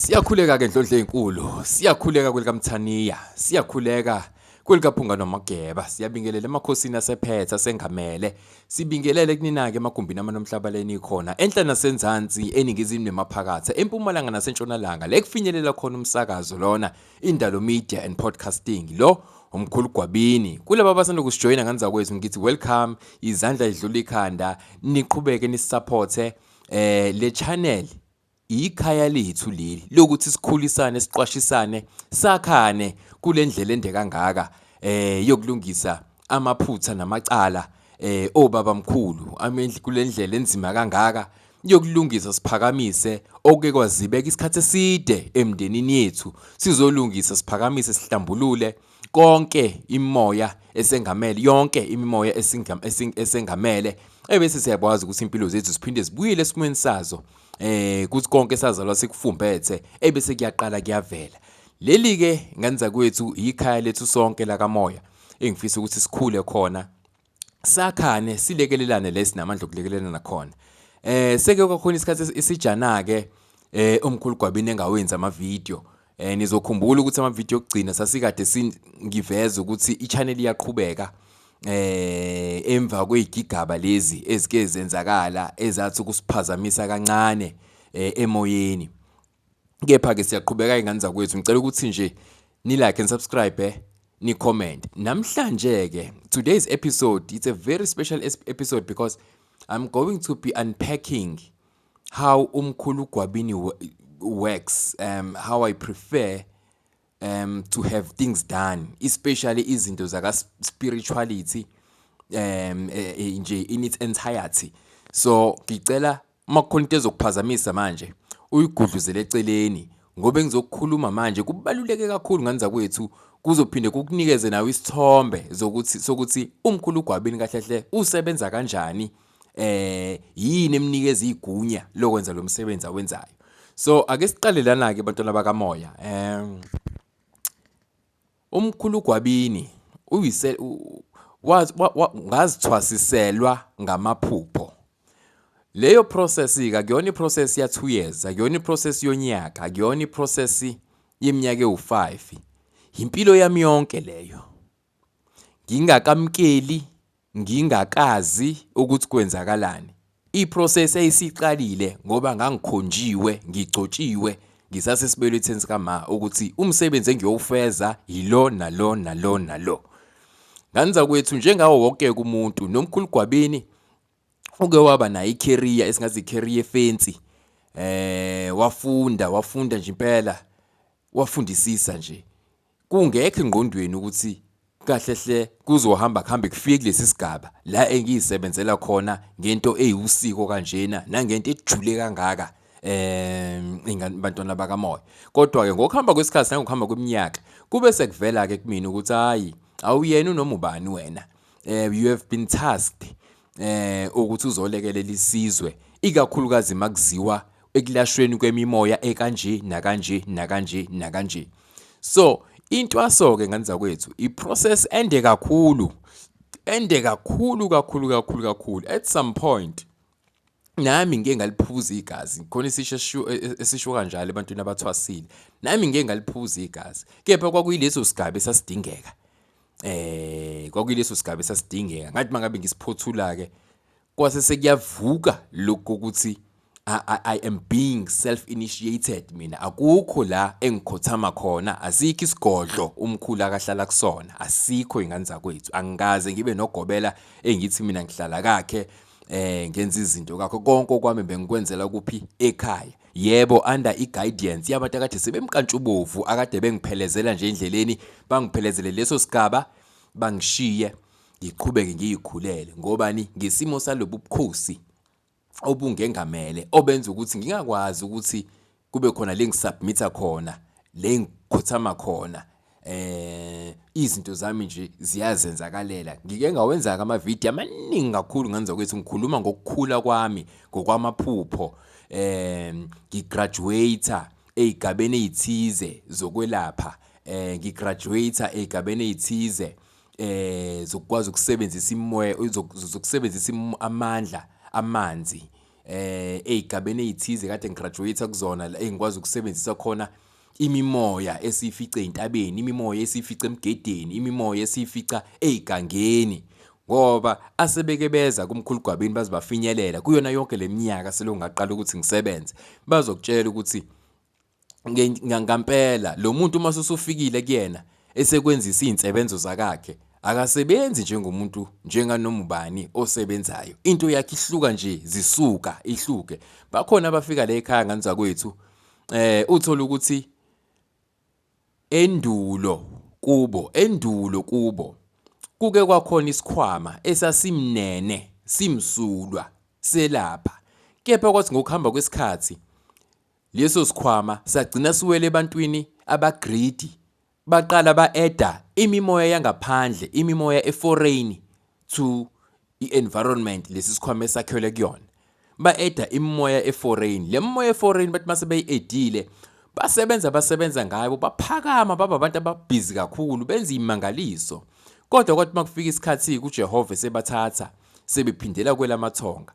Siyakhuleka ke ndlondle ezinkulu, siyakhuleka kwelikamthaniya, siyakhuleka kwelikaphunga nomageba, siyabingelela emakhosini asephetha sengamele, sibingelele kunina-ke emagumbini amanomhlaba leni khona, enhla nasenzansi, eningizimu nemaphakatha, empumalanga nasentshonalanga, le kufinyelela khona umsakazo lona, indalo media and podcasting, lo umkhulu gwabini kulaba abasanda kusijoyina nganizakwethu ngithi welcome izandla idlula ikhanda niqhubeke nisisaphothe eh le channel Yikhaya lethu leli lokuthi sikhulisane siqwashisane sakhane kule ndlela ende kangaka eh yokulungisa amaphutha namacala eh obaba mkhulu amendli kule ndlela enzima kangaka yokulungisa siphakamise oke kwazibeka isikhathi eside emndenini yethu sizolungisa siphakamise sihlambulule konke imoya esengamele yonke imimoya esengamele ebese siyakwazi ukuthi impilo zethu siphinde zibuyele esimweni sazo eh kuthi konke sazalwa sikufumbethe ebese kuyaqala kuyavela leli ke ngenza kwethu ikhaya lethu sonke lakamoya engifisa ukuthi sikhule khona sakhane silekelelane lesi namandla okulekelelana nakhona eh seke kwakhona isikhathi esijana ke eh omkhulu gwabini engawenza ama video eh nizokhumbula ukuthi ama video okugcina sasikade singiveza ukuthi i channel iyaqhubeka eh emva kwezigigaba lezi ezike zenzakala ezathi ukusiphazamisa kancane eh, emoyeni Kepha-ke siyaqhubeka izingane zakwethu. Ngicela ukuthi nje ni-like and subscribe eh? ni-comment. Namhlanje-ke, today's episode, it's a very special episode because I'm going to be unpacking how umkhulu Gwabini works, um, how I prefer um, to have things done, especially izinto zaka spirituality um, eh, eh, nje in its entirety. So ngicela Uma kukhona into ezokuphazamisa manje uyigudluzele eceleni ngoba engizokukhuluma manje kubaluleke kakhulu ngane zakwethu kuzophinde kukunikeze nawe isithombe zokuthi sokuthi umkhulu ugwabini kahle hle usebenza kanjani eh yini emnikeza igunya lokwenza lo msebenzi awenzayo so ake siqale lana ke bantwana bakamoya eh Umkhulu Gwabini uyise ngazithwasiselwa ngamaphupho. Leyo process-ke akuyona i-process ya-two years, akuyona i-process yonyaka, akuyona i-process yeminyaka ewu-five. Yimpilo yami yonke leyo. Ngingakamukeli Ngingakazi ukuthi kwenzakalani. I-process yayisiqalile ngoba ngangikhonjiwe, ngigcotshiwe, ngisasesibeletheni sikama ukuthi umsebenzi engiyowufeza yilo nalo nalo nalo. Nganza kwethu njengawo wonke umuntu nomkhulu Gwabini uke waba nayo i-career esingathi i-career efensi eh wafunda wafunda nje impela wafundisisa nje Kungekho engqondweni ukuthi kahle hle kuzohamba kuhambe kufike kulesi sigaba la engiyisebenzela khona ngento eyiwusiko kanjena nangento ejule kangaka um ingane bantwana bakamoya kodwa ke ngokuhamba kwesikhathi nangokuhamba kweminyaka kube sekuvela ke kumina ukuthi hayi awuyena unoma ubani wena um you have been tasked eh ukuthi uzolekelela isizwe ikakhulukazi makuziwa ekulashweni kwemimoya ekanje nakanje nakanje nakanje so intwaso ke nganiza kwethu iprocess ende kakhulu ende kakhulu kakhulu kakhulu kakhulu at some point nami ngike ngaliphuza igazi khona isisho esisho kanjalo ebantwini abathwasile nami ngike ngaliphuza igazi kepha kwakuyileso sigaba esasidingeka eh kwakuyileso sigaba esasidingeka ngathi mangabe ngisiphothula ke kwase sekuyavuka lokho ukuthi I, I am being self initiated mina akukho la engikhothama khona asikho isigodlo umkhulu akahlala kusona asikho ingane zakwethu angikaze ngibe nogobela engithi mina ngihlala kakhe eh ngenza izinto kakho konke okwami bengikwenzela kuphi ekhaya Yebo under iguidance yabantu akade sebemkantshubovu akade bengiphelezela nje endleleni bangiphelezele leso sigaba bangishiye ngiqhubeke ngiyikhulele ngobani ngesimo salobu bukhosi obungengamele obenza ukuthi ngingakwazi ukuthi kube khona lengisubmita khona lengikhothama khona eh izinto zami nje ziyazenzakalela ngike ngawenza ama video amaningi kakhulu ngenza ukuthi ngikhuluma ngokukhula kwami ngokwamaphupho eh ngigraduate ezigabeni ezithize zokwelapha eh ngigraduate ezigabeni ezithize eh zokwazi ukusebenzisa imoya zokusebenzisa amandla amanzi eh ezigabeni ezithize kade ngigraduate kuzona engikwazi ukusebenzisa khona Imimoya esiyifica ezintabeni, imimoya esiyifica emgedeni, imimoya esiyifica ezigangeni. Ngoba asebeke beza kumkhulu Gwabini baze bafinyelela kuyona yonke leminyaka selokhu ngaqala ukuthi ngisebenze. Bazokutshela ukuthi ngampela lo muntu uma usufikile kuyena esekwenzisa izinsebenzo zakakhe akasebenzi njengomuntu njenganoma ubani osebenzayo into yakhe ihluka nje zisuka ihluke bakhona abafika la ekhaya ngani zakwethu eh uthola ukuthi endulo kubo endulo kubo kuke kwakhona isikhwama esasimnene simsulwa selapha kepha kwathi ngokuhamba kwesikhathi leso sikhwama sagcina siwele ebantwini abagreedy Baqala ba-eda imimoya yangaphandle, imimoya eforeyini to i-environment lesi sikhwama esakhelwe kuyona. Ba-eda imimoya eforeyini. Le mimoya eforeyini bathi mase beyi-edile, basebenza basebenza ngayo, baphakama baba abantu ababhizi kakhulu, benza imangaliso. Kodwa kwathi uma kufika isikhathi kuJehova sebathatha, sebephindela kwelamathonga.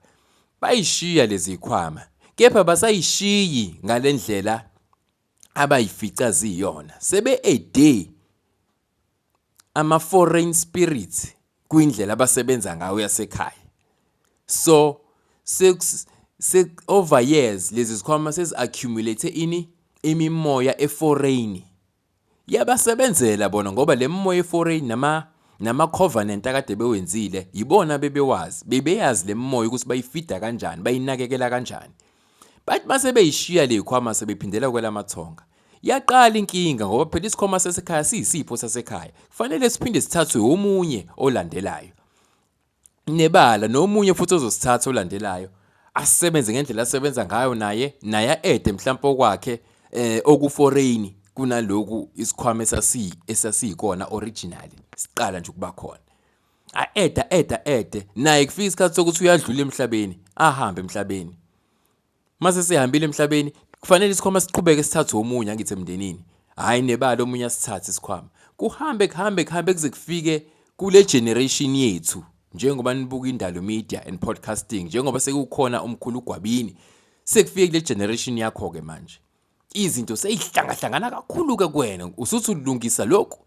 Bayishiya lezi zikhwama, kepha basayishiyi ngale ndlela abayifica ziyona sebe a day ama foreign spirits kwindlela abasebenza ngayo yasekhaya so se over years lezi zikhwama sezi accumulate ini imimoya eforeign yabasebenzela bona ngoba le mimoya eforeign nama nama-covenant akade bewenzile yibona bebewazi bebeyazi le mimoya ukuthi bayifida kanjani bayinakekela kanjani Bathi uma sebeyishiya le khwama sebephindela kwelamathonga. Yaqala inkinga ngoba phela isikhwama sasekhaya siyisipho sasekhaya. Kufanele siphinde sithathwe omunye olandelayo. Nebala nomunye futhi ozosithatha olandelayo asebenze ngendlela asebenza ngayo naye naye aede mhlawumbe okwakhe eh okuforeign kunaloku isikhwama esasi esasiyikona originally siqala nje ukuba khona A-eda eda ede naye kufika isikhathi sokuthi uyadlula emhlabeni, ahambe emhlabeni. Mase sehambile emhlabeni, kufanele isikhwama siqhubeke sithathe omunye angithi emndenini. Hhayi nebala omunye asithathe isikhwama. Kuhambe kuhambe kuhambe kuze kufike kule generation yethu njengoba nibuka indalo media and podcasting njengoba sekukhona umkhulu ugwabini sekufike kule generation yakho ke manje izinto seyihlangahlangana kakhulu ke kuwena usuthi ulungisa lokhu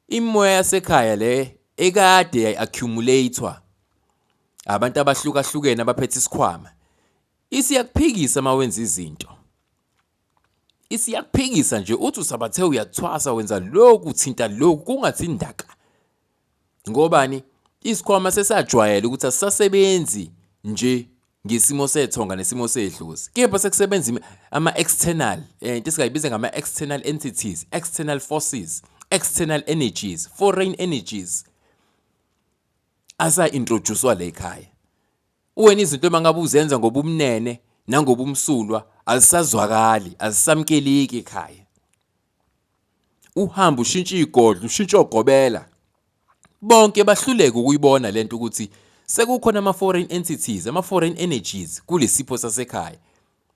Imimoya yasekhaya le ekade yayi-accumulator abantu abahlukahlukene abaphethe isikhwama isiyakuphikisa uma wenza izinto isiyakuphikisa nje uthi usabathe uyathwasa wenza lokhu uthinta lokhu kungathi indaka ngobani isikhwama sesajwayela ukuthi asisasebenzi nje ngesimo sethonga nesimo sedlozi kepha sekusebenza ama-external eh, into esingayibiza ngama-external entities external forces external energies foreign energies asa-introducwa la ekhaya wena izinto uma ngabe uzenza ngobumnene nangobumsulwa azisazwakali azisamkeleki ekhaya uhamba ushintsha igodlo ushintsha ogobela bonke bahluleke ukuyibona lento ukuthi sekukhona ama foreign entities ama foreign energies kulesipho sasekhaya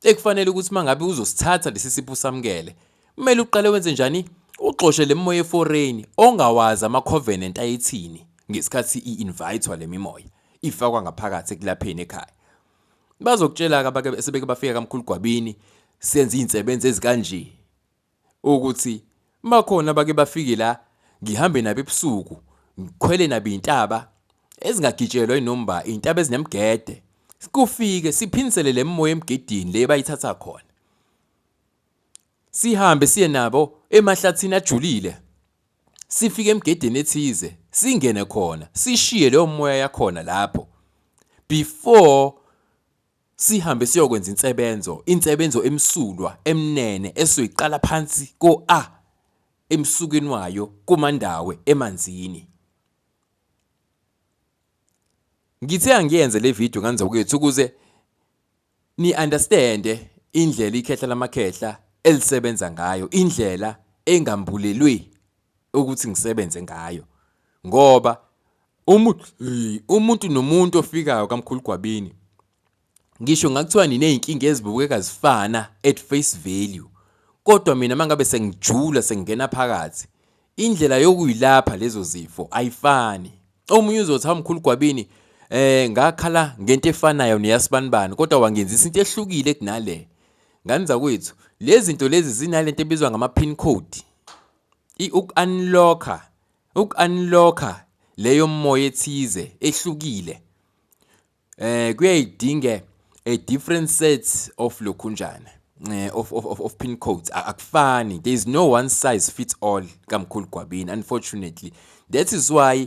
ekufanele ukuthi mangabe uzosithatha lesi sipho usamukele kumele uqale wenze njani uxoshe lemoya eforeign ongawazi ama covenant ayithini ngesikhathi i invitwa lemimoya ifakwa ngaphakathi ekulapheni ekhaya bazokutshela ke abake sebeke bafika kamkhulu gwabini senza izinsebenzi ezikanje ukuthi bakhona abake bafike la ngihambe nabo ebusuku ngikhwele nabo iy'ntaba ezingagitshelwa inomba iy'ntaba ezinemgede kufike siphinisele le mimoya emgedini le bayithatha khona sihambe siye nabo emahlathini ajulile sifike emgedeni ethize singene khona sishiye leyo moya yakhona lapho before Sihambe siyokwenza insebenzo, insebenzo emsulwa, emnene, esuke iqala phansi ko-A emsukeni wayo kuMandawe emanzini. Ngithe angiyenze le video nganza kwethu ukuze ni understande indlela ikhehla lamakhehla elisebenza ngayo, indlela engambulelwe ukuthi ngisebenze ngayo ngoba umuntu umuntu nomuntu ofikayo kamkhulu gwabini ngisho ngakuthiwa niney'nkinga ezibukeka zifana at face value kodwa mina mangabe sengijula sengingena phakathi indlela yokuyilapha lezo zifo ayifani omunye uzothi hamkhulu gwabini eh ngakhala ngento efanayo neyasibanibani kodwa wangenzisa into ehlukile kunale Ngani zakwethu, lezi zinto lezi zinalento ebizwa ngama-pin code. Uku-unlock-a, uku-unlock-a leyo moya ethize ehlukile. Eh kuyayidinga a different set of lokhunjana. Eh, of, of, of, of pin codes akufani there is no one size fits all kamkhulu gwabini unfortunately that is why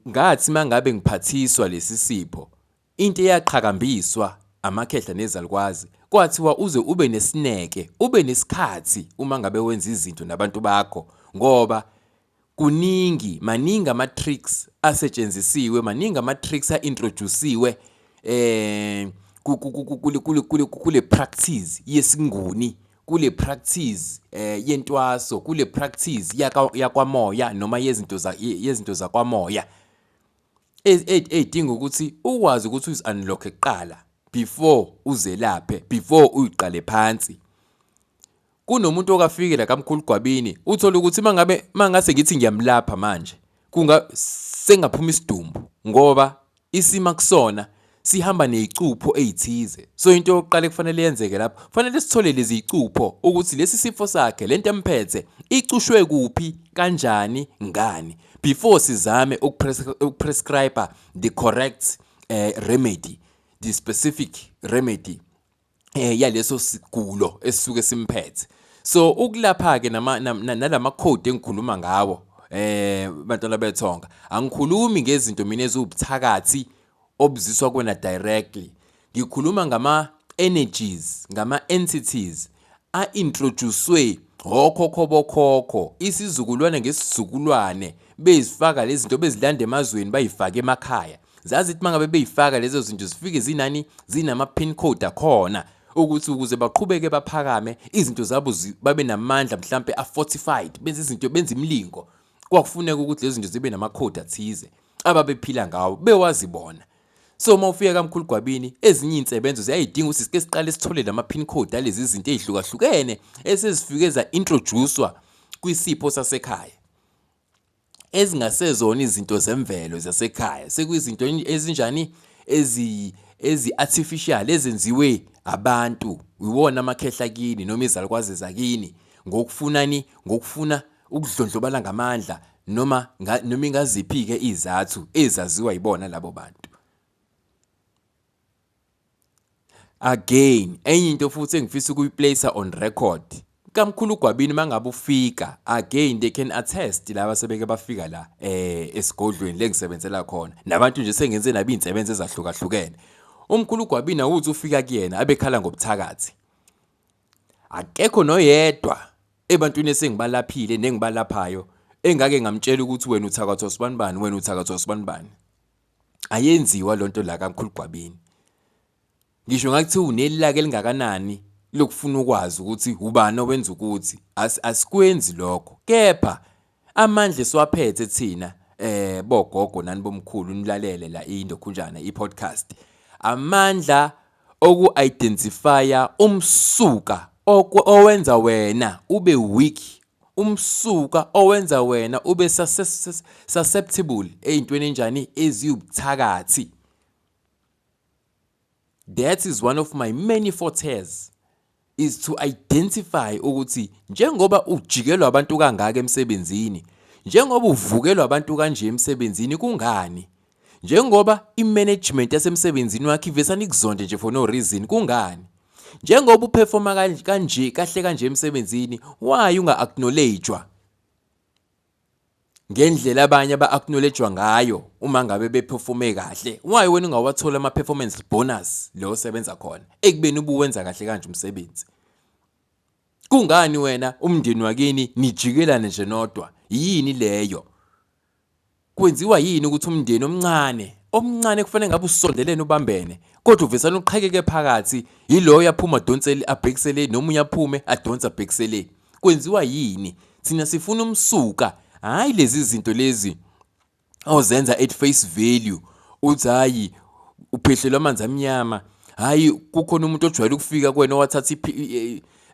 ngathi mangabe ngiphathiswa lesi sipho Into eyaqhakambiswa amakhehla nezalukwazi kwathiwa uze ube nesineke, ube nesikhathi uma ngabe wenza izinto nabantu bakho ngoba kuningi maningi ama tricks asetshenzisiwe, maningi ama tricks a introduciwe eh kule practice yesinguni kule practice eh yentwaso kule practice yakwamoya noma yezinto za yezinto zakwamoya ey'dinga ukuthi ukwazi ukuthi uzi-unlocke kuqala before uzelaphe before uyiqale phansi kunomuntu okafike la kamkhulu gwabini uthole ukuthi mangabe mangase ngithi ngiyamlapha manje kunga sengaphuma isidumbu ngoba isima kusona sihamba nezicupho ezithize so into yokuqala kufanele yenzeke lapho fanele sithole lezi zicupho ukuthi lesi sifo sakhe lento emphethe icushwe kuphi kanjani ngani before sizame ukuprescribe the correct uh, remedy the specific remedy eh yaleso sigulo esisuke simphethe so ukulapha ke nama nalama code engikhuluma ngawo eh bantwana bethonga angikhulumi ngezinto mina eziwubuthakathi obuziswa kwena directly ngikhuluma ngama energies ngama entities a introducewe hokhokho bokhokho isizukulwane ngesizukulwane bezifaka lezinto bezilanda emazweni bayifaka emakhaya zazithi mangabe beyifaka lezo zinto zifike zinani zinama pin code akhona ukuthi ukuze baqhubeke baphakame izinto zabo babe namandla mhlambe a fortified benze izinto benze imlingo kwakufuneka ukuthi lezi zinto zibe nama code athize ababephila ngawo bewazi bona so uma ufika kamkhulu gwabini ezinye izinsebenzo ziyayidinga ukuthi sike siqale sithole lama pin code alezi zinto ezihlukahlukene esezifike za introducewa kwisipho sasekhaya ezingasezona izinto zemvelo zasekhaya sekuyizinto ezinjani ezi ezi-artificial ezenziwe abantu iwona amakhehla kini noma izalukwazi zakini ngokufunani ngokufuna ukudlondlobala ngamandla noma noma ingaziphi-ke izathu ezaziwa yibona labo bantu Again, enye into futhi engifisa ukuyiplacer on record. Kamkhulu Gwabini mangabe ufika, again they can attest laba sebeke bafika la eh esigodlweni lengisebenzela khona. Nabantu nje sengenze nabi insebenze ezahlukahlukene. Umkhulu Gwabini awuthi ufika kuyena abekhala ngobuthakathi. Akekho noyedwa ebantwini esengibalaphile nengibalaphayo engake ngamtshela ukuthi wena uthakathwa sibanibani wena uthakathwa sibanibani. ayenziwa lonto la kamkhulu Gwabini ngisho ngathi unelilaka elingakanani lokufuna ukwazi ukuthi ubani owenza ukuthi asikwenzi lokho kepha amandla esiwaphethe thina eh bogogo nani bomkhulu nilalele la indokhunjana i-podcast amandla oku-identifya umsuka owenza wena ube weak umsuka owenza wena ube susceptible eyintweni enjani eziwubuthakathi that is one of my many fortes is to identify ukuthi njengoba ujikelwa abantu kangaka emsebenzini njengoba uvukelwa abantu kanje emsebenzini kungani Njengoba i-management yasemsebenzini wakhe ivesana ikuzonde nje for no reason, kungani? Njengoba uperforma kanje kahle kanje emsebenzini, why unga-acknowledge-wa? ngendlela abanye aba-acknowledge-wa ngayo uma ngabe beperforme kahle why wena ungawathola ama-performance bonus le osebenza khona ekubeni ubuwenza kahle kanje umsebenzi kungani wena umndeni wakini nijikelane nje nodwa yini leyo Kwenziwa yini ukuthi umndeni omncane omncane kufanele ngabe usondelene ubambene kodwa uvesana uqhekeke phakathi yiloyo aphuma adonsele abhekisele nomunye aphume adonse abhekisele kwenziwa yini thina sifuna umsuka hayi lezi zinto lezi ozenza at face value uthi hayi uphehlelwa amanzi amnyama hayi kukhona umuntu ojwayele ukufika kwena owathatha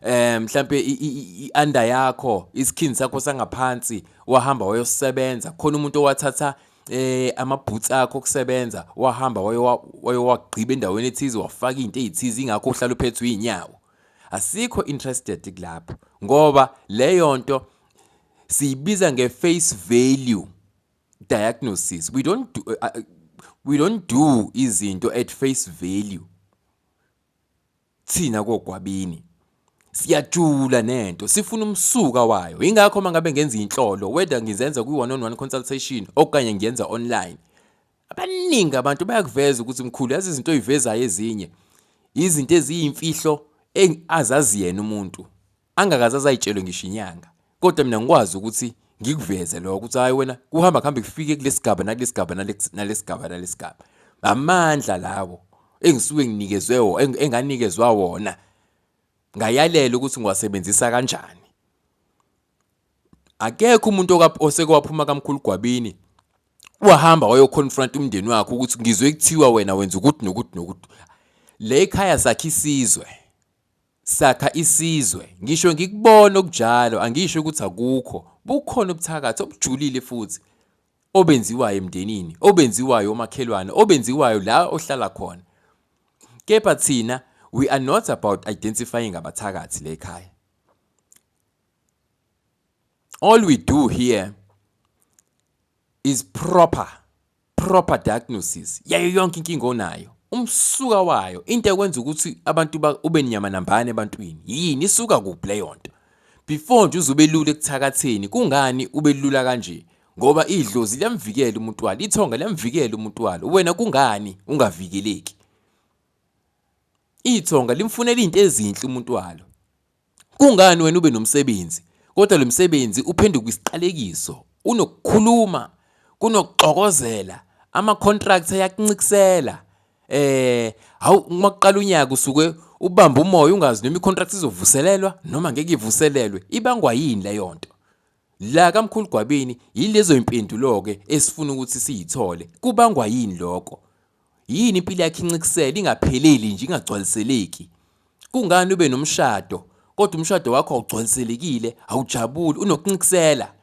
eh mhlambe ianda yakho isikhindi sakho sangaphansi wahamba wayosebenza khona umuntu owathatha eh amabhutsi akho kusebenza wahamba wayowagqiba endaweni ethize wafaka into ezithize ingakho uhlala uphethwe inyawo asikho interested kulapho ngoba leyo nto siyibiza nge face value diagnosis we don't do, uh, uh we don't do izinto at face value Thina kogwabini siyajula nento sifuna umsuka wayo ingakho uma ngabe ngenza inhlolo whether ngizenza kwi-one on one consultation okanye ngiyenza online abaningi abantu bayakuveza ukuthi mkhulu yazi izinto oyivezayo ezinye izinto eziyimfihlo azazi yena umuntu angakaze azayitshelwe ngisho inyanga kodwa mina ngikwazi ukuthi ngikuveze lokho ukuthi hayi wena kuhamba kuhambe kufike kulesigaba nakulesigaba nalesigaba nalesigaba amandla lawo engisuke nginikezwe wona enganikezwa wona ngayalela ukuthi ngiwasebenzisa kanjani akekho umuntu osekwaphuma kamkhulu gwabini wahamba wayoconfront umndeni wakhe ukuthi ngizwe kuthiwa wena wenza ukuthi nokuthi nokuthi le khaya sakhe isizwe Sakha isizwe. Ngisho ngikubona okunjalo angisho ukuthi akukho. Bukhona ubuthakathi obujulile futhi obenziwayo emndenini, obenziwayo omakhelwane, obenziwayo la ohlala khona. Kepha thina we are not about identifying abathakathi le khaya. All we do here is proper proper diagnosis yayo yonke inkinga onayo umsuka wayo into ekwenza ukuthi abantu ube nyama nambane ebantwini yini isuka kuphi leyo nto before nje uzubelula ekuthakatheni kungani ubelula kanje ngoba idlozi liyamvikela umuntu walo ithonga liyamvikela umuntu walo wena kungani ungavikeleki ithonga limfunela izinto ezinhle umuntu walo Kungani wena ube nomsebenzi kodwa lo msebenzi uphenduka isiqalekiso? Unokukhuluma, kunokuxokozela, ama-contract ayakuncikisela. Eh, hawu uma kuqala unyaka usuke ubamba umoya ungazi noma i-contract izovuselelwa noma ngeke ivuselelwe. Ibangwa yini leyo nto? La kaMkhulu Gwabini yilezo impendulo-ke esifuna ukuthi siyithole. Kubangwa yini lokho? Yini impilo yakhe incikisele ingapheleli nje ingagcwaliseleki? Kungani ube nomshado kodwa umshado wakho awugcwaliselekile, awujabuli, unokuncikisela?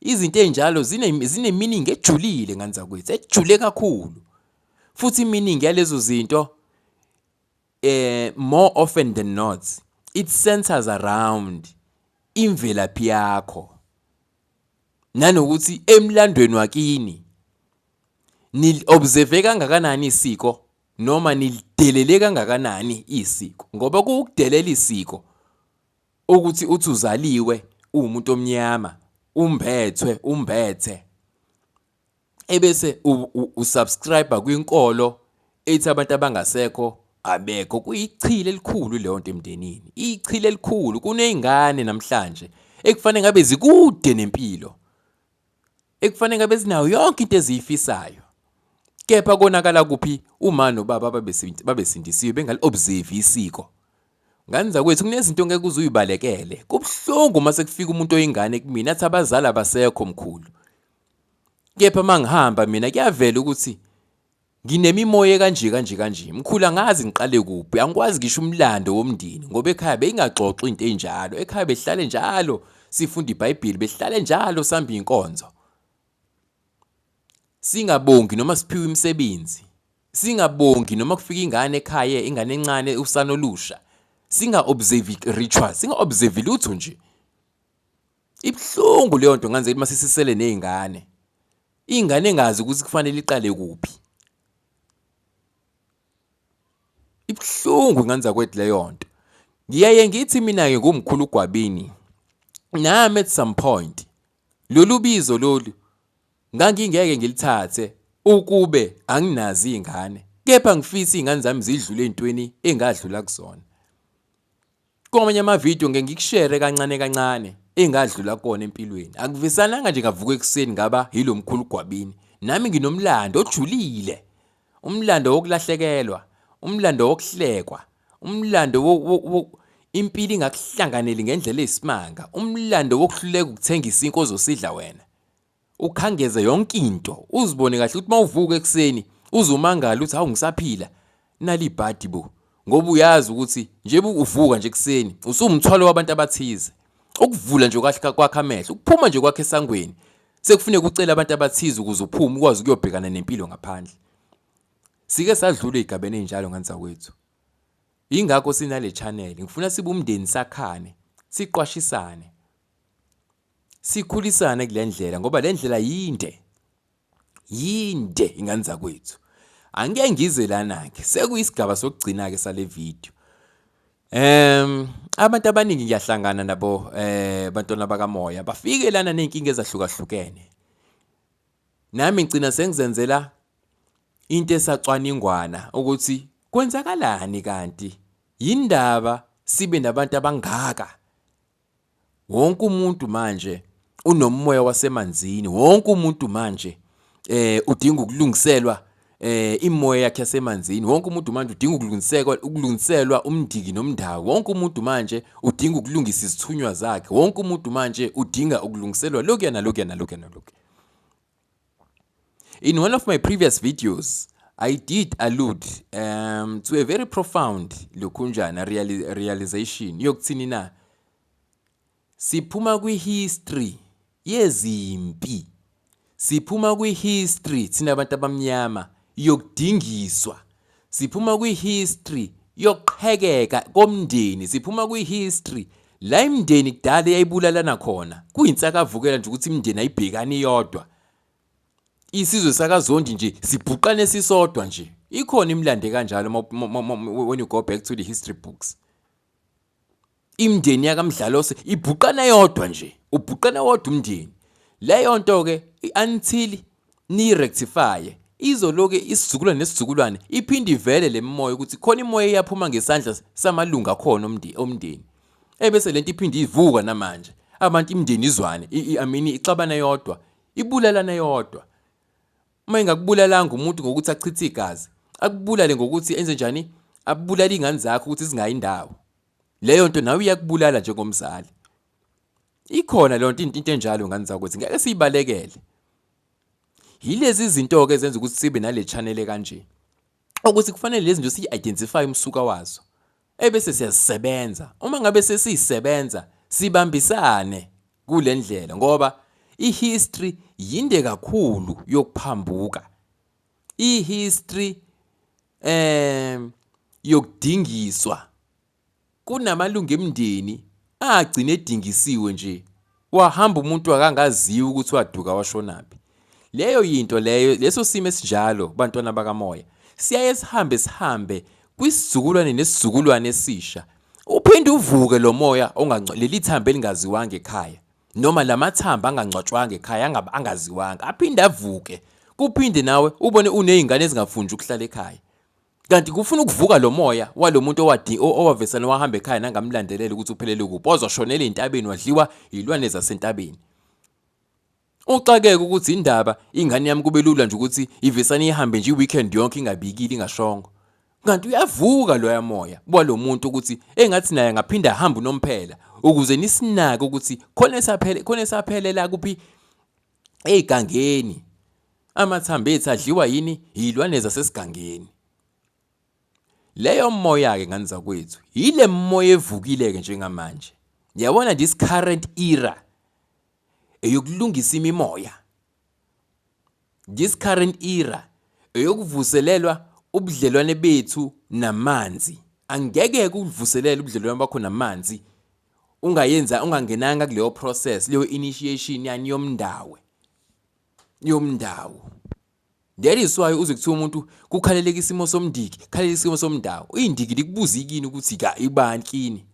Izinto ezinjalo zineminingi ejulile ngane zakwethu, ejule kakhulu. Futhi iminingi yalezo zinto eh more often than not it centers around imvelaphi yakho nanokuthi emlandweni wakini nilobserve kangakanani isiko noma nilidelele kangakanani isiko ngoba kuwukudelela isiko ukuthi uthi uzaliwe uwumuntu omnyama umbethwe umbethe ebese usubscribe kwinkolo ethi abantu abangasekho abekho kuyichile elikhulu leyo nto emndenini ichile elikhulu kunezingane namhlanje ekufanele ngabe zikude nempilo ekufanele ngabe zinayo yonke into eziyifisayo kepha konakala kuphi uma nobaba babesindisiwe bengali-observe isiko ngane zakwethu kunezinto ngeke uze uyibalekele kubuhlungu uma sekufika umuntu oyingane kumina athi abazali abasekho mkhulu Kepha mangihamba mina kuyavela ukuthi nginemimoya kanje kanje kanje. Mkhulu angazi ngiqale kuphi, angikwazi ngisho umlando womndeni ngoba ekhaya beyingaxoxi into enjalo. Ekhaya behlale njalo sifunda iBhayibheli, behlale njalo sihamba inkonzo. Singabongi noma siphiwe imisebenzi. Singabongi noma kufika ingane ekhaya, ingane encane usana olusha. Singa observe rituals, singa observe lutho nje. Ibuhlungu leyo nto ngenzeka uma sisisele nezingane. Ingane engazi ukuthi kufanele iqale kuphi. Ibuhlungu ngenza kwethu leyo nto. Ngiyaye ngithi mina ke ngumkhulu gwabini. Nami at some point lolu bizo lolu ngangingeke ngilithathe ukube anginazi izingane. Kepha ngifisa izingane zami zidlule ezintweni engadlula kuzona. Kwamanye amavidiyo ngeke ngikushere kancane kancane engadlula kona empilweni. Akuvisananga nje ngavuka ekuseni ngaba yilo mkhulu Gwabini. Nami nginomlando ojulile. Umlando wokulahlekelwa, umlando wokuhlekwa, umlando impilo ingakuhlanganeli ngendlela eyisimanga, umlando wokuhluleka ukuthengisa inkozo sidla wena. ukhangeze yonke into uzibone kahle ukuthi mawuvuka ekuseni uzumangala ukuthi hawu ngisaphila nalibhadi bo ngoba uyazi ukuthi nje uvuka nje ekuseni usumthwalo wabantu abathize ukuvula nje kahle kwakhe amehlo ukuphuma nje kwakhe esangweni sekufuneka ucela abantu abathize ukuze uphume ukwazi ukuyobhekana nempilo ngaphandle sike sadlula igabene njalo nganza kwethu ingakho sinale channel ngifuna sibe umndeni sakhane siqwashisane sikhulisane kule ndlela ngoba le ndlela yinde yinde ingane zakwethu angike ngize lana-ke sekuyisigaba sokugcina-ke sale video Um abantu abaningi ngiyahlangana nabo eh bantwana bakamoya bafike lana nezinkinga ezahlukahlukene nami ngicina sengizenzela into esacwaningwana ukuthi kwenzakalani kanti yindaba sibe nabantu abangaka wonke umuntu manje unomoya wasemanzini wonke umuntu manje eh udinga ukulungiselwa eh imoya yakhe yasemanzini wonke umuntu manje udinga ukulungiselwa ukulungiselwa umndiki nomndawo wonke umuntu manje udinga ukulungisa izithunywa zakhe wonke umuntu manje udinga ukulungiselwa lokuyana lokuyana lokuyana lokuyana In one of my previous videos, I did allude um, to a very profound lokhunjana reali realization yokuthini na siphuma kwi-history yezimpi siphuma kwi-history thina abantu abamnyama yokudingiswa Siphuma kwi-history yokuqhekeka komndeni, siphuma kwi-history la imndeni kudala yayibulalana khona. Kuyinsakavukela nje ukuthi imndeni ayibhekani yodwa. Isizwe sakazondi nje sibhuqane sisodwa nje. Ikhona imlande kanjalo when you go back to the history books. imndeni yakamdlalose ibhuqana yodwa nje ubhuqana wodwa umndeni leyo nto ke until niyirectifye izoloke isizukulwane nesizukulwane iphinde ivele le mimoya ukuthi khona imoya eyaphuma ngesandla samalungu akhona omndeni ebese lento iphinde ivuka namanje abantu imndeni izwane amini ixabana yodwa ibulalana yodwa uma ingakubulalanga umuntu ngokuthi achithe igazi akubulale ngokuthi enze njani abulale ingane zakho ukuthi zingayi indawo leyo nto nawe iyakubulala njengomzali ikhona leyo nto into enjalo ngane zakwethu ngeke siyibalekele yilezi zinto-ke ezenza ukuthi sibe nale chanele kanje ukuthi kufanele lezi nto siyi-identify umsuka wazo ebese siyazisebenza uma ngabe sesiyisebenza sibambisane kule ndlela ngoba ihistory yinde kakhulu yokuphambuka ihistory eh yokudingiswa kunamalungu emndeni agcine edingisiwe nje wahamba umuntu akangaziwa ukuthi waduka washonaphi leyo yinto leyo leso simo esinjalo bantwana bakamoya siyaye sihambe sihambe kwisizukulwane nesizukulwane esisha uphinde uvuke lo moya leli thambo elingaziwanga ekhaya noma la mathambo angangcwatshwanga ekhaya angabe angaziwanga aphinde avuke kuphinde nawe ubone unezingane ezingafunji ukuhlala ekhaya kanti kufuna ukuvuka lo moya walo muntu owadi owavesana wahamba ekhaya nangamlandelela ukuthi uphelele kuphi ozoshonela entabeni wadliwa yilwane zasentabeni uxakeke ukuthi indaba ingane yami kube lula nje ukuthi ivesane ihambe nje iweekend yonke ingabikile ingashongo kanti uyavuka loya moya kwalo muntu ukuthi engathi naye angaphinde ahambe unomphela ukuze nisinake ukuthi khona esaphele khona esaphelela kuphi egangeni amathambo ethu adliwa yini yilwane zasesigangeni leyo moya ke ngani zakwethu yile moya evukile ke njengamanje yabona this current era eyokulungisa imimoya This current era eyokuvuselelwa ubudlelwane bethu namanzi. Angeke kuvuselela ubudlelwane bakho namanzi ungayenza ungangenanga kuleyo process leyo initiation yani yomndawe yomndawo that is why uze kuthiwa umuntu kukhaleleka isimo somndiki khalela isimo somndawo uyindiki likubuza ikini ukuthi ka ibani kini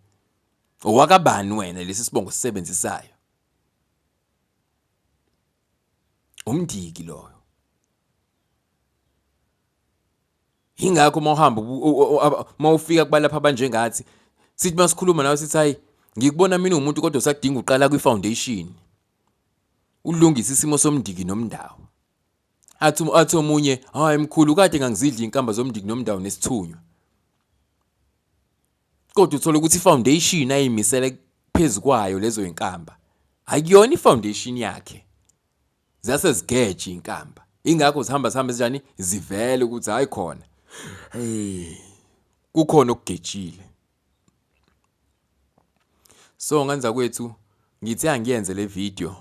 owakabani wena lesi sibongo sisebenzisayo umndiki loyo ingakho uma uhamba uma ufika kubalapha abanjengathi sithi masikhuluma nawe sithi hayi ngikubona mina umuntu kodwa usadinga uqala kwi-foundation ulungisa isimo somndiki nomndawo athi athi omunye hayi mkhulu kade ngangizidla inkamba zomndiki nomndawo nesithunywa kodwa uthole ukuthi ifoundation ayimisele phezu kwayo lezo inkamba akuyona ifoundation yakhe zase zigeje inkamba ingakho zihamba zihamba zinjani zivele ukuthi hayi khona hey kukhona okugejile so nganza kwethu ngithi angiyenze le video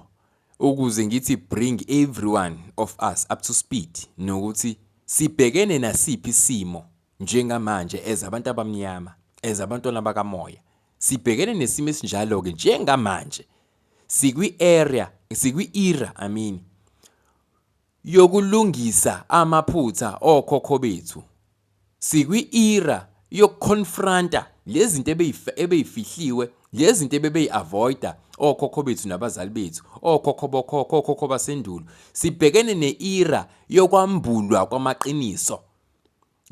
ukuze ngithi bring everyone of us up to speed nokuthi sibhekene nasiphi isimo Njengamanje, as abantu abamnyama, as abantwana bakamoya, sibhekene nesimo esinjalo-ke njengamanje. Sikwi-area, sikwi-era, I mean, yokulungisa amaphutha okhokho bethu. Sikwi-era yokuconfronta lezinto ebeyifihliwe lezinto ebebeyi-avoida okhokho bethu nabazali bethu okhokho bokhokho okhokho basendulo sibhekene ne-era yokwambulwa kwamaqiniso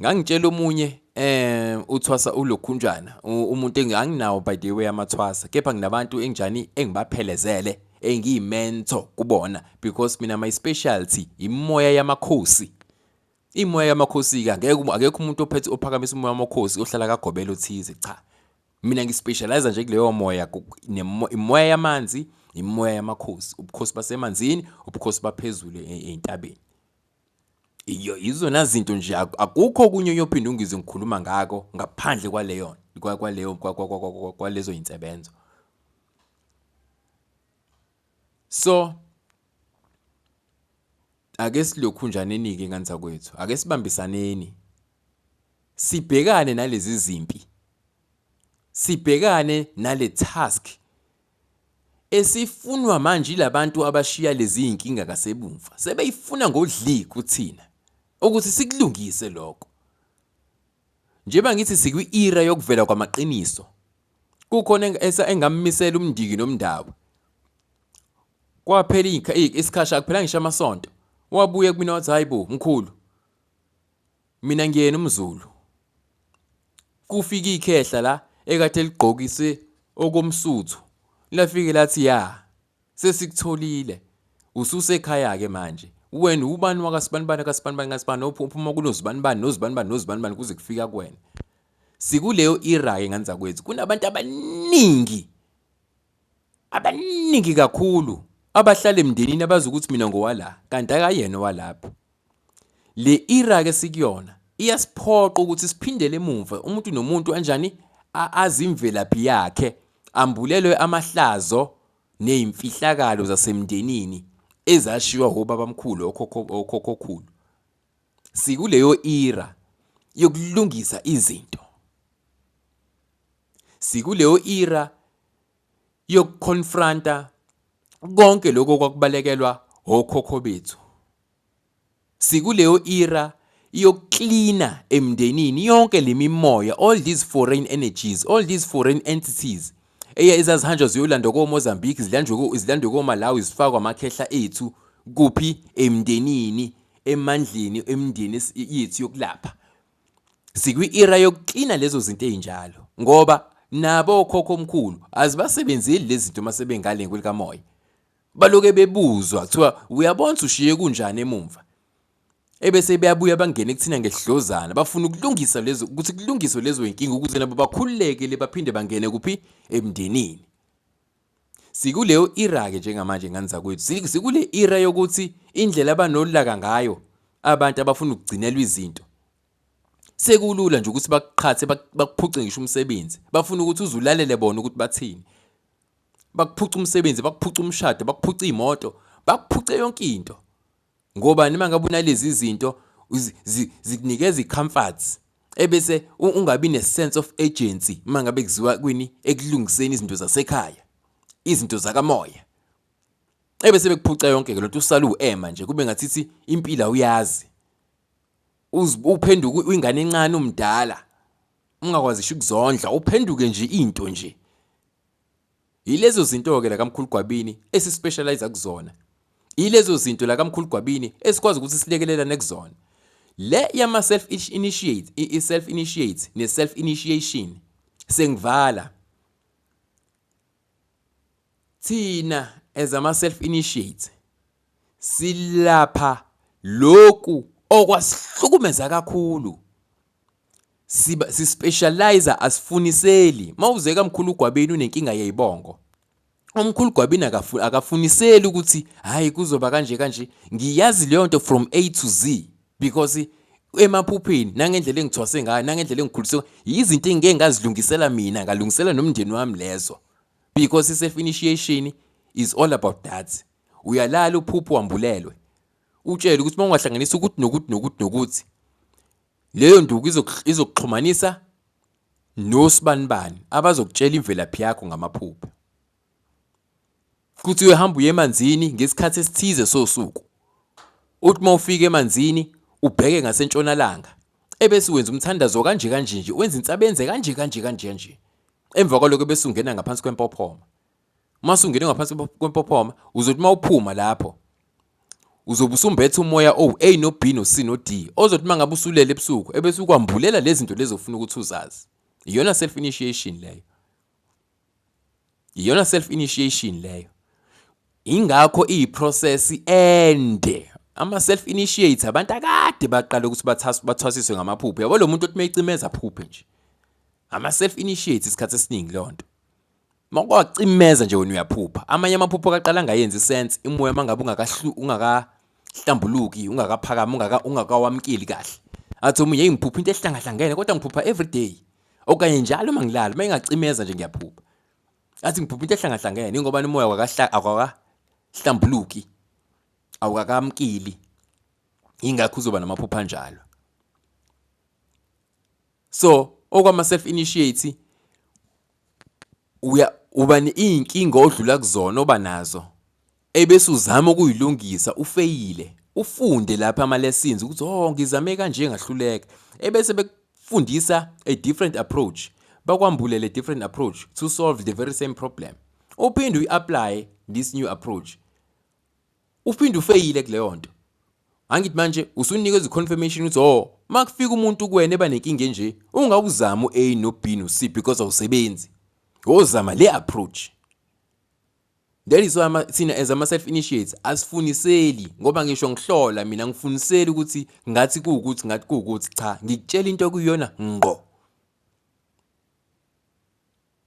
ngangitshela omunye eh uthwasa ulokhunjana umuntu enganginawo by the way amathwasa kepha nginabantu enginjani engibaphelezele engiyimentor kubona because mina my specialty imoya yamakhosi imoya yamakhosi ka ngeke akekho umuntu ophethe ophakamisa umoya wamakhosi ohlala kagobela othize cha mina ngispecialize nje kuleyo moya imoya yamanzi imoya yamakhosi ubukhosi basemanzini ubukhosi baphezulu e-, entabeni Iyo izona zinto nje akukho okunye uyophinde ungizwe ngikhuluma ngako ngaphandle kwaleyo kwaleyo kwalezo insebenzo. So ake silokhunjaneni-ke ingane zakwethu, ake sibambisaneni. Sibhekane nalezi zimpi. Sibhekane nale task Esifunwa manje ilabantu abashiya lezizinkinga kasebumva sebeyifuna ngodli kuthina ukuthi sikulungise lokho. Njeba ngithi sikwi era yokuvela kwamaqiniso. Kukhona engamisela umndiki nomndawo. Kwaphela isikhashi akuphela ngisho amasonto. Wabuye kumina wathi hayibo mkhulu. Mina ngiyena umzulu. Kufika ikhehla la ekade ligqokise okomsuthu lafike lathi ya sesikutholile ususekhaya ke manje wena ubani wakasibanibani kasibanibani kasibani ophuma kunozibanibani nozibanibani nozibanibani kuze kufika kuwena sikuleyo era-ke ngane zakwethu kunabantu abaningi Abaningi kakhulu abahlala emndenini abazi ukuthi mina ngowala kanti akayena owalapho. Le era ke sikuyona iyasiphoqa ukuthi siphindele emuva umuntu nomuntu anjani azimvelaphi yakhe ambulelwe amahlazo nezimfihlakalo zasemndenini ezashiywa obabamkhulu okhokho okhokhokhulu. Sikuleyo era yokulungisa izinto. Sikuleyo era yokuconfronta konke lokho kwakubalekelwa okhokho bethu. Sikuleyo era yokuklina emndenini yonke lemimoya all these foreign energies all these foreign entities eye ezazihanjwa ziyolandwa koMozambique zilandwe zilandwe koMalawi zifakwa amakhehla ethu kuphi emndenini emandleni emndeni yethu yokulapha Sikwi-era yokuklina lezo zinto ezinjalo ngoba nabo okhokho omkhulu azibasebenzeli lezi zinto uma sebengale nkwelikamoya baloke bebuzwa kuthiwa uyabona ushiye kunjani emumva ebese beyabuya bangene kuthina ngesidlozana bafuna ukulungisa lezo ukuthi kulungiswe lezo inkinga ukuze nabo bakhululekele baphinde bangene kuphi emndenini Sikuleyo era-ke njengamanje ngane zakwethu, sikule era yokuthi indlela abanolaka ngayo abantu abafuna ukugcinelwa izinto sekulula nje ukuthi bakuqhathe bakuphuce ngisho umsebenzi bafuna ukuthi uzulalele bona ukuthi bathini bakuphuca umsebenzi bakuphuca umshado bakuphuca imoto bakuphuce yonke into Ngobani mangabe unalezi zinto zikunikeza i-comforts ebese ungabi ne-sense of urgency uma ngabe kuziwa kwini ekulungiseni izinto zasekhaya izinto zakamoya ebese bekuphuca yonke ke lonto usala uema nje kube ngathithi impila uyazi uphenduka uyingane encane umdala ungakwazi ukuzondla uphenduke nje into nje Yilezo zinto-ke lakamkhulu Gwabini esispecializa kuzona. Yilezo zinto lakamkhulu Gwabini esikwazi ukuthi silekelelane kuzona. Le yama self initiate, i self initiate ne self initiation sengivala. Thina as ama self initiate silapha lokhu okwasihlukumeza kakhulu siba sispecializer asifuniseli mawuzeka mkhulu gwabeni unenkinga yeyibongo omkhulu gwabini akafuniseli ukuthi hayi kuzoba kanje kanje ngiyazi leyo nto from A to Z because emaphupheni nangendlela engithwase ngayo nangendlela engikhulise yizinto engike ngazilungisela mina ngalungisela nomndeni wami lezo because self initiation is all about that uyalala uphupho wambulelwe utshele ukuthi uma ungahlanganisa ukuthi nokuthi nokuthi nokuthi Leyo nduku izokuxhumanisa nosibanibani abazokutshela imvelaphi yakho ngamaphupho. Kuthi uyohamba uye emanzini ngesikhathi esithize sosuku. Uthi uma ufika emanzini ubheke ngasentshonalanga ebese wenza umthandazo kanje kanje nje wenza insabenze kanje kanje kanje kanje. Emva kwaloko bese ungena ngaphansi kwempophoma. uma sungene ngaphansi kwempophoma uzothi uma uphuma lapho uzobe usumbethe umoya owu-a no-b no-c no-d ozothi uma ngabe usulele ebusuku ebese ukwambulela lezi zinto lezi ofuna ukuthi uzazi iyona self initiation leyo iyona self initiation leyo ingakho iyiprocess ende ama self initiates abantu akade baqala ukuthi bathwasiswe ngamaphupho yabo lo muntu othi meyicimeza phuphe nje ama self initiates isikhathi esiningi lonto Makwacimeza nje wena uyaphupha. Amanye amaphupho kaqala ngayenzi sense imoya mangabe ungakahlu ungakahlambuluki, ungakaphakami, ungaka ungakawamkeli kahle. Athi omunye hey ngiphupha into ehlangahlangene kodwa ngiphupha every day. Okanye njalo mangilala, mayingacimeza nje ngiyaphupha. Athi ngiphupha into ehlangahlangene ingoba umoya wakahla akakahlambuluki. Awukakamkeli. Ingakho uzoba namaphupha anjalo. So, okwama self initiate uya uba iy'nkinga odlula kuzona oba nazo ebese uzama ukuyilungisa ufeyile ufunde lapha ama-lessons ukuthi oh ngizame kanje ngahluleka ebese bekufundisa a different approach bakwambulele a different approach to solve the very same problem uphinde uyi-apply this new approach uphinde ufeyile kuleyo nto angithi manje usunika iziconfirmation ukuthi oh uma kufika umuntu kuwena eba nenkinga enje ungawuzama u-a no-b no-c because awusebenzi wozama le approach that is why thina as ama-self initiates asifuniseli ngoba ngisho ngihlola mina ngifuniseli ukuthi ngathi kuwukuthi ngathi kuwukuthi cha ngikutshela into okuyiyona ngqo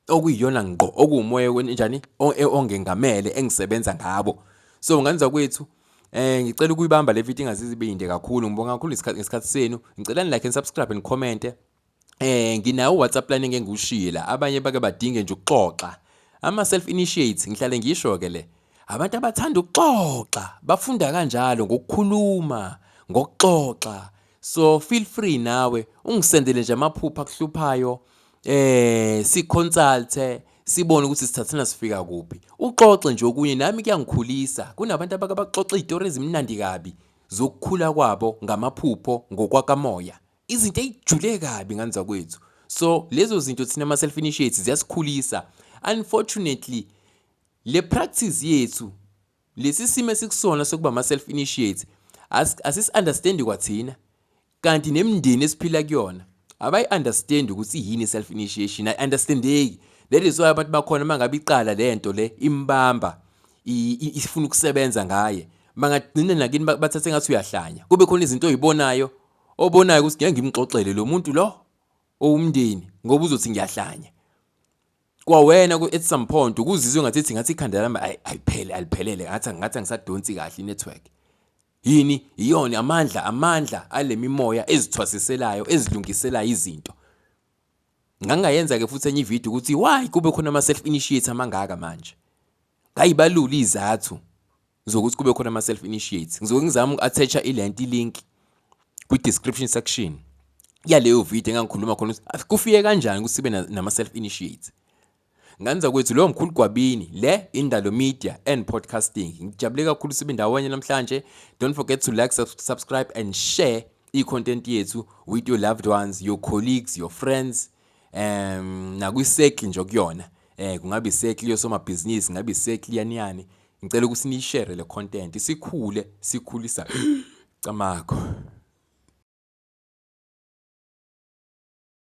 okuyiyona ngqo okuwumoya wenjani e, ongengamele engisebenza ngabo so nganza kwethu Eh ngicela ukuyibamba le video ingazizi ibinde kakhulu ngibonga kakhulu isikhathi ngesikhathi senu ngicela ni like and subscribe and comment eh nginawo WhatsApp line engeke ngiwushiye la abanye bake badinge nje ukuxoxa ama self initiates ngihlale ngisho ke le abantu abathanda ukuxoxa bafunda kanjalo ngokukhuluma ngokuxoxa so feel free nawe ungisendele nje amaphupha akuhluphayo eh si consulte sibone ukuthi sithathana sifika kuphi uxoxe nje okunye nami kuyangikhulisa kunabantu abake baxoxa izitori ezimnandi kabi zokukhula kwabo ngamaphupho ngokwakamoya izinto ezijule kabi nganza kwethu so lezo zinto thina ama self initiates ziyasikhulisa unfortunately le practice yethu Lesi simo esikusona sokuba ama-self initiate asisi-understandi kwathina kanti nemindeni esiphila kuyona abayi-understandi ukuthi yini i-self initiation ayi-understandeki that is why abantu bakhona uma ngabe iqala le nto le imbamba ifuna ukusebenza ngaye bangagcina nakini bathathe ngathi uyahlanya kube khona izinto oyibonayo obonayo ukuthi ngeke ngimxoxele lo muntu lo owumndeni ngoba uzothi ngiyahlanya kwawena ku at some point ukuzizwe ngathi ethi ngathi ikhanda lami ayiphele aliphelele ngathi ngathi angisadonsi kahle inetwork yini iyona amandla amandla alemimoya ezithwasiselayo ezilungisela izinto ngangayenza ke futhi enye ivideo ukuthi why kube khona ama self initiate amangaka manje ngayibalula izathu zokuthi kube khona ama-self initiates ngizoke ngizama uku-attacha ilento ilink kwi-description section yaleyo video engangikhuluma khona ukuthi kufike kanjani ukuthi sibe nama-self initiates nganza kwethu lowo mkhulu gwabini le indalo media and podcasting ngijabule kakhulu sibe ndawonye namhlanje don't forget to like subscribe and share i-content yethu with your loved ones your colleagues your friends um nakwi-circle nje okuyona um eh, kungabe i-circle yosomabhizinisi kungabe i-circle yaniyani Ngicela ukuthi niyishere le content sikhule sikhulisa camago.